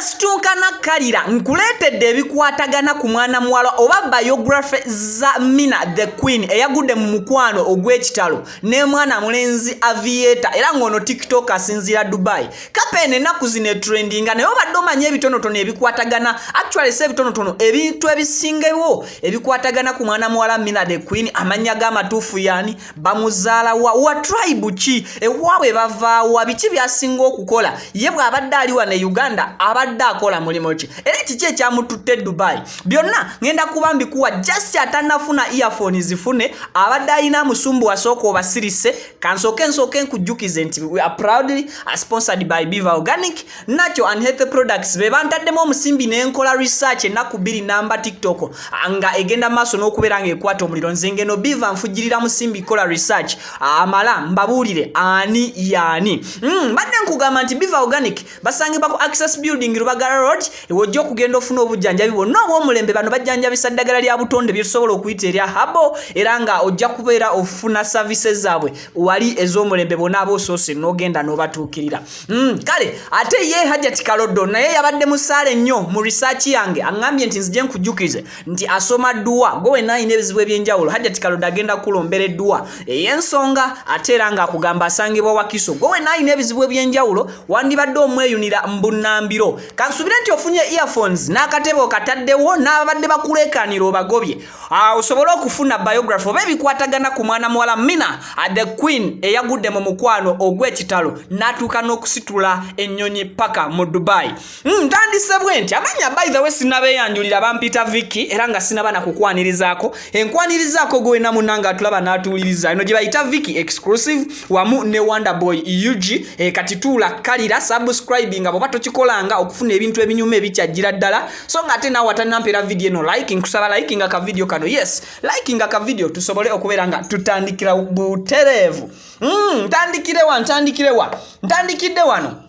Situnkana Kalira nkuleetedde ebikwatagana ku mwana muwala oba biography za Mina the Queen eyagudde mu mukwano ogw'ekitalo n'emwana mulenzi Aviator era ng'ono TikTok asinziira Dubai kapa eno ennaku zino etrendinga naye obadde omanya ebitonotono ebikwatagana actually si ebitonotono ebintu ebisingewo ebikwatagana ku mwana muwala mina the queen amannya g'amatuufu yani bamuzaalawa wa tribe ki ewaabwe bavaawa biki byasinga okukola ye bw'abadde ali wano e uganda abadde akola mulimu ki era kiki ekyamututte e dubai byonna ŋenda kuba mbikuwa just atanafuna earphone zifune abadde alina musumbu wasooka obasirise kansooke nsooke nkujjukize nti we are proudly sponsored by beaver organic nacho and healthy products be bantaddemu omusimbi ne nkola research ennaku bbiri namba tiktok ah, nga egenda maaso n'okubeera ng'ekwata omuliro nze ngeno beaver nfujjirira musimbi kola research amala mbabuulire ani yaani hmm, mbadde nkugamba nti beaver organic basangibwa ku access building lubagala road ewojja okugenda ofuna obujjanjabi bwonna obwomulembe bano bajjanjabisa ddagala lya butonde byetusobola okuyita erya habo era nga ojja kubeera ofuna services zaabwe wali ez'omulembe bona aba osoose n'ogenda n'obatuukirira mm, kale ate ye hajati kalodo naye yabadde musaale nnyo mu research yange aŋŋambye nti nzije nkujjukize nti asoma dduwa gwe wenna alina ebizibu ebyenjawulo hajjati kalodde agenda kukulombera edduwa ey'ensonga ate era ng'akugamba asangibwa wakiso gwe wenna alina ebizibu ebyenjawulo wandibadde omweyunira mbunnambiro kansubire nti ofunye earphones n'akatebe okataddewo n'ababadde bakuleekaanira obagobye ah, osobole okufuna biography oba ebikwatagana ku mwana muwala mina ah, the queen eyagudde mu mukwano ogw'ekitalo n'atuuka n'okusitula ennyonyi paka mu dubai Hmm, ntandise bwe nti amanya by the way sinabeyanjulira bampita viki era nga sinaba nakukwanirizaako enkwanirizaako gwena munanga atulaba n'atuwuliriza eno gye bayita viki exclusive wamu ne wonderboy ug e, kati tuula kalira subscribe nga bwoba tokikolanga okufuna ebintu ebinyuma ebikyajjira ddala so nga ate naawe atanampeera vidiyo eno like nkusaba like nga ka vidiyo kano yes like nga ka vidiyo tusobole okubeera nga tutandikira butereevu hmm, ntandikirewa ntandikirewa ntandikidde wano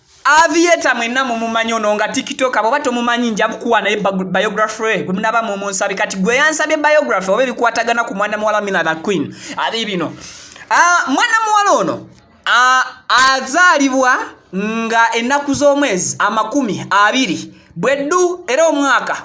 Avieta mwenna mumumanyi ono nga tiktok bwoba tomumanyi nja kukuwa naye biography gwe munaba mumunsabe kati gwe yansabye biography oba ebikwatagana ku mwana muwala mina the queen ali bino ah, mwana muwala ono ah, azaalibwa nga ennaku z'omwezi amakumi abiri bweddu era omwaka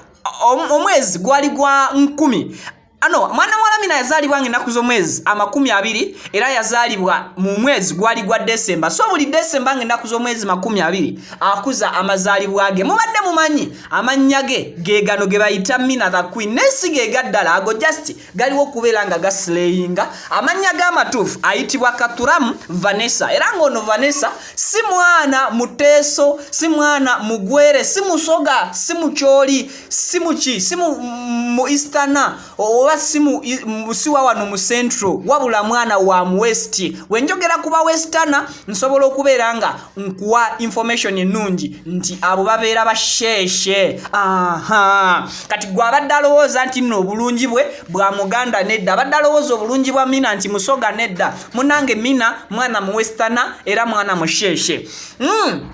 omwezi gwali gwa nkumi ano mwana wa lamina yazaalibwa nga ennaku z'omwezi amakumi abiri era yazaalibwa mu mwezi gwali gwa desemba so buli desemba nga ennaku z'omwezi makumi abiri akuza amazaalibwa ge mubadde mumanyi amannya ge gegano ge bayita mina the queen naye si gega ddala ago just galiwo okubeera nga gasileyinga amannya g'amatuufu ayitibwa katuramu vanessa era ng'ono vanessa si mwana muteeso si mwana mugwere si musoga si mukyoli si muki si mu easterna oba simusiwa wano mu central wabula mwana wa mu west wenjogera kuba westerna nsobola okubeera nga nkuwa information ennungi nti abo babeera basheeshe aha kati gwe abadde alowooza nti nno obulungi bwe bwa muganda nedda abadde alowooza obulungi bwa mina nti musoga nedda munange mina mwana mu westerna era mwana musheeshe mm.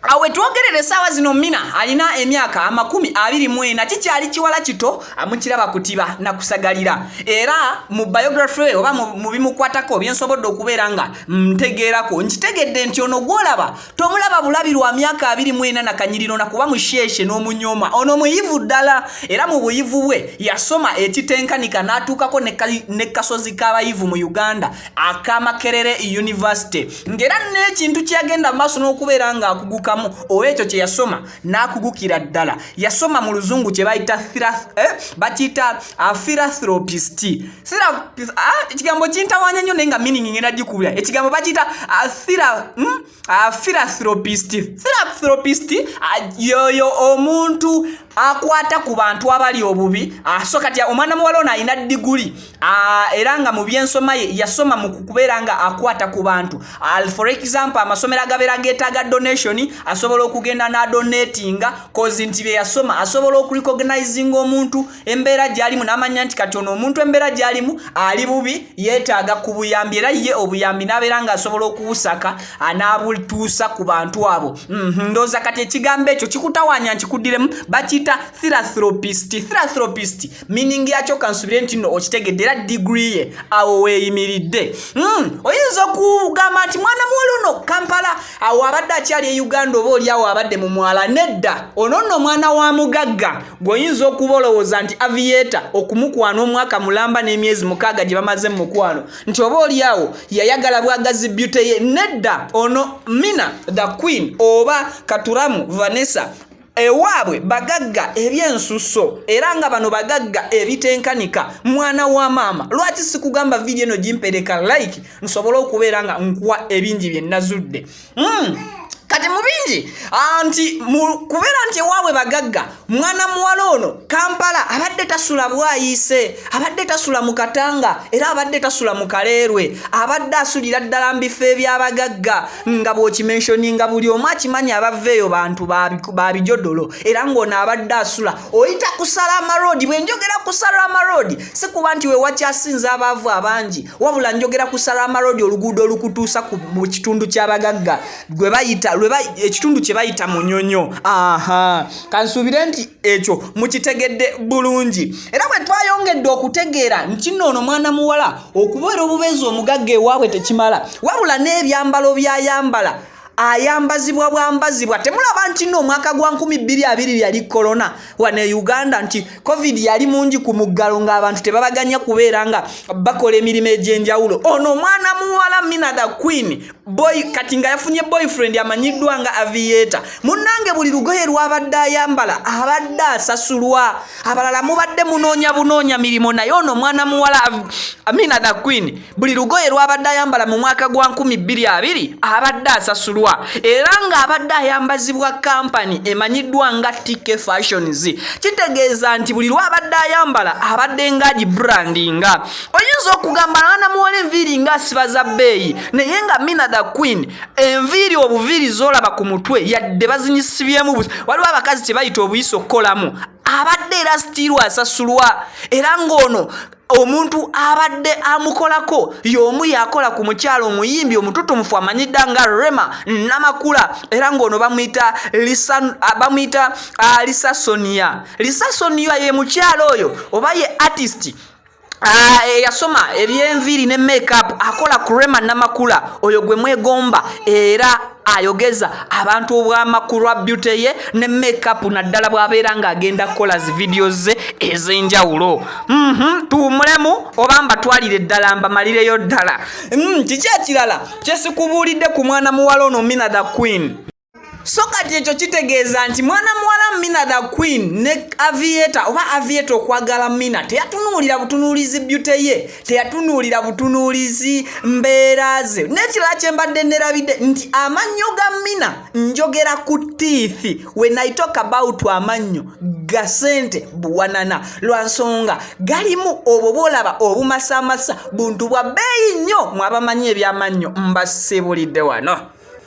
awe twogerere esaawa zino mina alina emyaka amakumi abiri mwena kikyali kiwala kito amukiraba kutiba nakusagalira era mu biography we oba mu bimukwatako byensobodde okubeera nga ntegeerako nkitegedde nti ono gwolaba tomulaba bulabi lwa myaka abiri mwena nakanyiriro nakuba musheeshe n'omunyoma ono muyivu ddala era mu buyivu bwe yasoma ekitenkanika n'atuukako ne kasozi k'abayivu mu uganda akamakerere university ngera n'ekintu kyeyagenda maaso n'okubeera ng'akugukamu oba ekyo kye yasoma n'akugukira ddala yasoma mu luzungu kye bayita eh, bakiyita ah, philathropist ah, ekigambo kintawanya nnyo naye nga miningi ngenda gikubira ekigambo bakiyita ah, hmm? Ah, philanthropist philanthropist ah, yoyo omuntu akwata ku bantu abali obubi aso ah, kati omwana muwala ono alina diguli era nga mu byensoma ye yasoma mu kubeera nga akwata ku bantu for example amasomero agabeera getaaga donation asobola okugenda n'adonatinga kozi nti bye yasoma asobola okurecognizinga omuntu embeera gyalimu n'amanya nti kati ono omuntu embeera gyalimu ali bubi yeetaaga ku buyambi era ye obuyambi n'abeera ng'asobola okuwusaka anaabutuusa ku bantu abo mhm, ndooza kati ekigambo ekyo kikutawanya nkikuddiremu bakiyita thirathropist thirathropist miningi yakyo kansubire nti no okitegedde era digiri ye awo weeyimiridde mhm, oyinza okugamba nti mwana muwala ono kampala awo abadde akyali e uganda oba oli awo abadde mu mwala nedda ono nno omwana wa mugagga gweoyinza okuba olowooza nti aviyeta okumukwana omwaka mulamba n'emyezi mukaaga gye bamaze mu mukwano nti oba olyawo yayagala bwagazi byute ye nedda ono mina the queen oba katuramu vanessa ewaabwe bagagga ebyensusso era nga bano bagagga ebitenkanika mwana wa maama lwaki sikugamba vidiyo eno gimpereka like nsobole okubeera nga nkuwa ebingi bye nazudde mm. kati mu bingi ah, nti kubeera nti ewaabwe bagagga mwana muwala ono kampala abadde tasula bwayiise abadde tasula mu katanga era abadde tasula mu kaleerwe abadde asulira ddala mu bifo ebyabagagga nga bw'okimenshoni nga buli omu akimanyi abava eyo bantu ba bijodolo era ng'ono abadde asula oyita kusala amaroodi bwe njogera kusala amaroodi si kuba nti wewakyasinza abaavu abangi wabula njogera ku salama road oluguudo olukutuusa mu kitundu ky'abagagga ekitundu kye bayita munyonyo aha kansuubire nti ekyo mukitegedde bulungi era bwe twayongedde okutegeera nkinno ono mwana muwala okubeera obubeezi omugagga ewaabwe tekimala wabula n'ebyambalo byayambala ayambazibwa bwambazibwa temulaba nti no omwaka gwa 22 yali corona wano e uganda nti covid yali mungi ku muggalo ng'abantu tebabaganya kubeera nga bakola emirimu egy'enjawulo ono omwana muwala mina the queen boy kati nga yafunye boyfriend amanyiddwa nga aviator munnange buli lugoye lwabadde ayambala abadde asasulwa abalala mubadde munoonya bunoonya mirimu naye ono omwana muwala amina the queen buli lugoye lw'abadde ayambala mu mwaka gwa 2020 abadde asasulwa era ng'abadde ayambazibwa kampani emanyiddwa nga tk fashions kitegeeza nti buli lw'abadde ayambala abadde ng'agi brandinga oyinza okugamba anamuwola enviiri ng'asiba za bbeeyi naye nga mina the queen enviiri obuviiri z'olaba ku mutwe yadde bazinyisibyemu waliwo abakazi kye bayita obuyisa okukolamu abadde era sitiirwa asasulwa era ng'ono omuntu abadde amukolako y'omu yakola ku mukyalo omuyimbi omututumufu amanyidda nga rema namakula era ng'ono bamuyita bamuyita ah, lisa sonia lisa sonia ye mukyalo oyo oba ye artist Ah, eh, yasoma ebyenviiri ne makeup akola ku rema namakula oyo gwe mwegomba era ayogeza abantu obwamakulu lwa beauty ye ne makeup naddala bw'abeera ng'agenda kukola zi vidiyo ze ez'enjawulo mhm, tuwumulemu oba mbatwalire ddala mbamalireyo ddala mm, kiki ekirala kyesikubuulidde ku mwana muwala ono mina the queen so kati ekyo kitegeeza nti mwana muwala mina the queen ne avieta oba avieta okwagala mina teyatunuulira butunuulizi byute ye teyatunuulira butunuulizi mbeera ze n'ekirala kye mbadde nerabidde nti amannyo ga mina njogera ku tiithi when i talk about amannyo ga sente buwanana lwa nsonga galimu obwo bwolaba obumasamasa buntu bwa bbeeyi nnyo mwabamanyi ebyamannyo mbasibulidde wano